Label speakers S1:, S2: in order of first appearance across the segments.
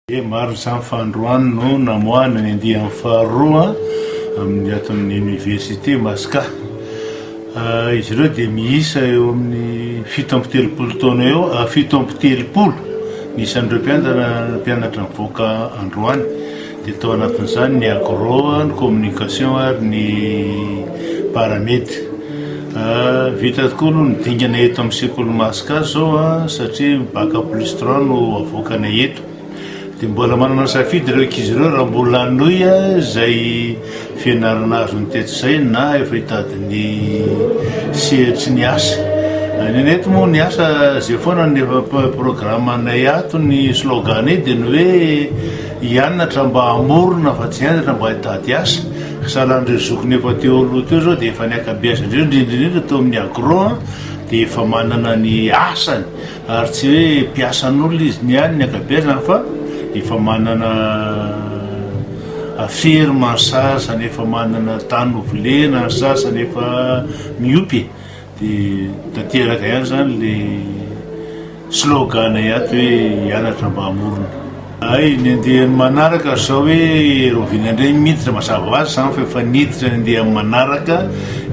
S1: Dia maro izany fa androany no namoahana ny andiany faharoa amin'ny ato amin'ny Oniversite Masca. Izy ireo dia miisa eo amin'ny fito amby telopolo taona eo, fito amby telopolo ny isan'ireo mpianatra nivoaka androany. dia tao anatin'izany ny agro, ny communication ary ny paramedy. Vita tokoa aloha ny dingana eto amin'ny sekoly Masca zao satria bac plus trois no avoakanay eto. Dia mbola manana safidy ireo ankizy ireo raha mbola hanohy izay fianarana azony tetsy izay na efa hitady ny sehatry ny asa. Ny anay eto moa ny asa izay foana ny efa programanay ato ny slogan-nay dia ny hoe I Anatra mba hamorona fa tsy Anatra mba hitady asa, salan'ireo zokiny efa teo aloha teo izao dia efa niaka-biasa indreo, indrindra indrindra teo amin'ny agro an, dia efa manana ny asany ary tsy hoe mpiasan'olona izy ny any niaka-biasany fa efa manana ferme ny sasany, efa manana tany novolena ny sasany, efa miompy e! Dia tanteraka ihany izany ilay slogan ato hoe hianatra mba hamorona. Hay ny andeha amin'ny manaraka ry zao hoe Raovina indray ny miditra mazava ho azy izany fa efa niditra ny andeha amin'ny manaraka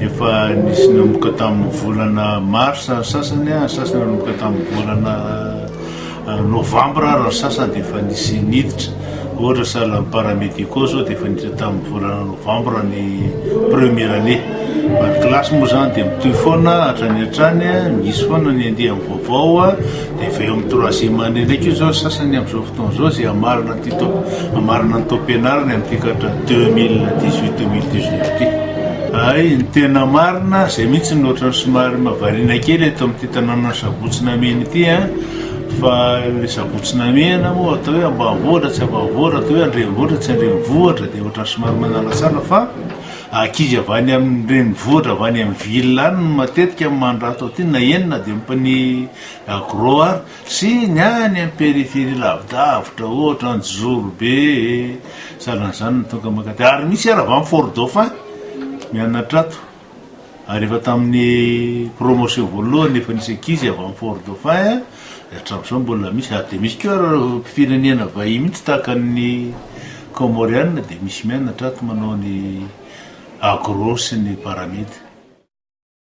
S1: efa nisy nanomboka tamin'ny volana marsa ny sasany an, ny sasany nanomboka tamin'ny volana Novambra ary ny sasany dia efa nisy niditra, ohatra salle paramédicaux izao dia efa niditra tamin'ny volana novambra ny première année. Fa ny kilasy moa izany dia mitohy foana hatrany hatrany, misy foana ny andiany vaovao dia efa eo amin'ny troisième année indray koa izao ny sasany amin'izao fotoana izao izay hamarana ity tao, hamarana ny taom-pianarany amin'ity katra deux mille dix huit, deux mille dix neuf ity. Hay, ny tena marina, izay mihitsy no ohatran'ny somary mahavariana kely eto amin'ity tanànan'i Sabotsy Namena ity an! Fa ilay sabotsy namehana moa atao hoe ambanivohitra tsy ambanivohitra, atao hoe andrenivohitra tsy andrenivohitra dia ohatran'ny somary manalatsala fa ankizy avy any amin'ny renivohitra avy any amin'ny ville any no matetika no mandra ato aty na eny na dia ompany agro ary sy ny any amin'ny périphérie lavidavitra ohatra Anjozorobe e, sahalan'izany no tonga mankaty ary misy ary avy any fort dauphin mianatra ato. Ary efa tamin'ny promotion voalohany efa nisy ankizy avy amin'ny Fort Dauphin dia hatramin'izao mbola misy ary dia misy koa ary firenena vahiny mihitsy tahaka ny Comoriana dia misy mianatra ato manao ny agro sy ny paramed.